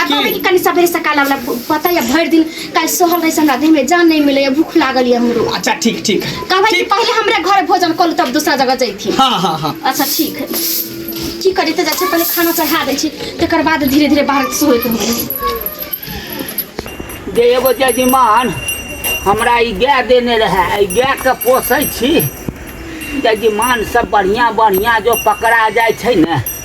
आ कहबै कि कनि सबेरे सकाल वाला पता या भरि दिन काल्हि सहल रही हमरा देह में जान नहीं मिले या भूख लागल या हमरो अच्छा ठीक ठीक कहबै कि ठीक। पहले हमरा घर भोजन कल तब दूसरा जगह जैथी हाँ हाँ हाँ अच्छा ठीक है की करी तऽ जाइ छै पहिले खाना चढ़ा दै छी तकर बाद धीरे धीरे बाहर सोए के होई जे एगो जजमान हमरा ई गाय देने रहए एहि गायके पोसै छी जजमान सब बढ़िआँ बढ़िआँ जो पकड़ा जाइ छै ने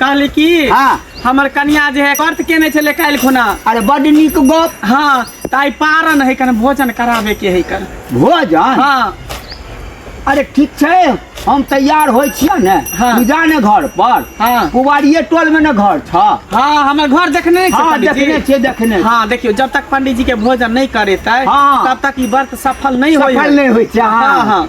कहली कि हाँ। हमर कनिया जे है व्रत केने छले काल्हि खुना अरे बड नीक गप हाँ तऽ आइ पारन है कन भोजन कराबे के है कन भोजन हाँ अरे ठीक छै हम तैयार होइ छियै ने हाँ। तू जा ने घर पर हाँ। कुवारिये टोल में ने घर छ हाँ हमर घर देखने छै हाँ पंडित जी? देखने छियै देखने छियै। हाँ देखियो जब तक पंडित जी के भोजन नहीं करेतै हाँ। तब तक ई व्रत सफल नहीं होय सफल नहि होइ छै हाँ हाँ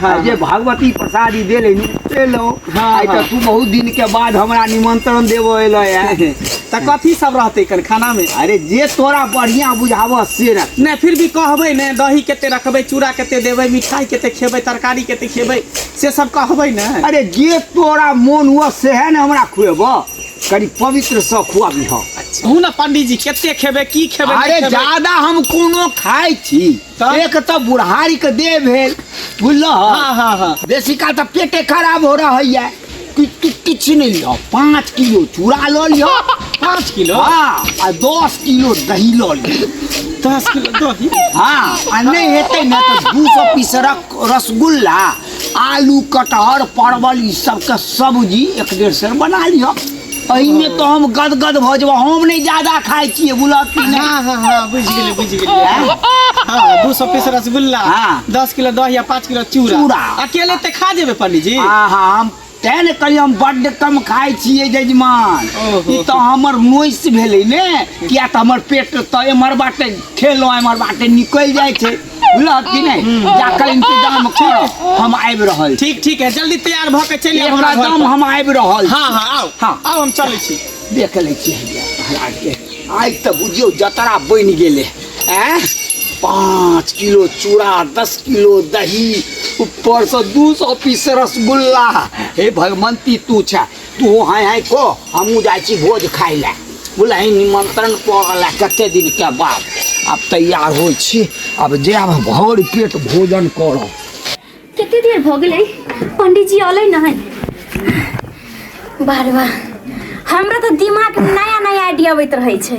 हाँ, आ जे हाँ। भगवती प्रसाद ई देले नी एलौ हाँ, आइ हाँ। तऽ तू बहुत दिन के बाद हमरा निमंत्रण देबो एलै है तऽ कथी सब रहतै कन खाना में अरे जे तोरा बढ़िया बुझाबऽ से रख नहीं फिर भी कहबै ने दही कते रखबै चूड़ा कते देबै मिठाई कते खेबै तरकारी कते खेबै से सब कहबै ने अरे जे तोरा मोन हुआ सेहे ने हमरा खुएबऽ कनि पवित्र सँ खुआबी हम कहू ने पंडीजी कते खेबै की खेबै अरे नहीं खेबै? ज्यादा हम कोनो खाइ छी तब? एक तऽ बुढ़ारी के देह भेल बुझलह हाँ, हाँ, हाँ। बेसी काल तऽ पेटे खराब हो रहा है कि कि- किछु नहि लिह पाँच किलो चूड़ा लऽ लिह पाँच किलो हाँ आ दस किलो दही लऽ लिह दस किलो दही हाँ आ नहि हेतै ने तऽ दू सौ पीस रक- रसगुल्ला आलू कटहर परवल ई सबके सब्जी एक डेढ़ सेर बना लिह एहिमे तो हम गदगद भऽ जेबौ हम नहि ज्यादा खाइ छियै बुलक कि नहि हाँ हाँ हाँ बुझ गेलियै बुझ गेलियै हाँ हाँ, दू सौ पीस रसगुल्ला हाँ। दस किलो दही आ पाँच किलो चूड़ा चूड़ा। अकेले ते खा जेबे पंडित जी आहा हम तैं ने कहलियै हम बड्ड कम खाइ छियै जजमान ओहो। ई तऽ हमर नोइस भेलै ने किया तऽ हमर पेट तऽ एम्हर बाटे खेलहुँ एम्हर बाटे निकलि जाइ छै बुझलक कि नहीं जा कर इंतजाम करो हम आबि रहल छी ठीक ठीक है जल्दी तैयार भ के चलि आउ हमरा घर एकदम पर। हम आबि रहल छी। हाँ हाँ आउ हाँ। आउ हम चलै छी देख लै छी हैया महाराज के आइ तऽ बुझियौ जतरा बनि गेलै ऐं पाँच किलो चूड़ा दस किलो दही ऊपरसँ दू सौ पीस रसगुल्ला हे भगवन्ती तू छे तू हाय हाय को हमू जाइ छी भोज खाय ले बुलही निमंत्रण पड़ल है कते दिन के बाद अब तैयार हो छी अब जायब भर पेट भोजन कर कते देर भ गेलै पंडित जी अलै न बार बार हमरा तो दिमाग नया नया आइडिया अबैत रहै छै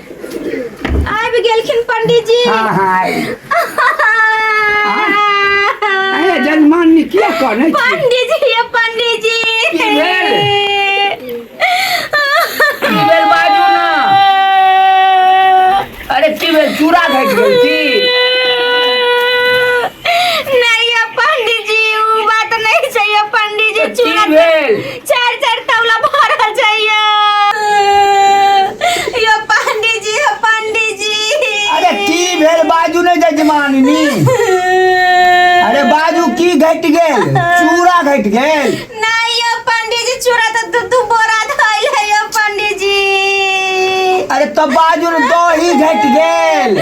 आबि गेलखिन पंडीजी हाँ हाँ आबि गेल। अरे जजमानी किया कहने छी पंडीजी ये पंडीजी की भेल? की भेल बाजू ना अरे की भेल चूड़ा घटि गेल की नहीं ये पंडीजी वो बात नहीं चाहिए पंडीजी की चूड़ा भेल चारि चारि तौला भरल छै यो पंडीजी यो पंडीजी अरे की भेल बाजू ने जजमानिनी अरे बाजू की घट गेल चूड़ा घट गेल नहीं यो पंडीजी चूड़ा तो दू दू बोरा धइल है यो पंडीजी अरे तो बाजू ने दही घट गेल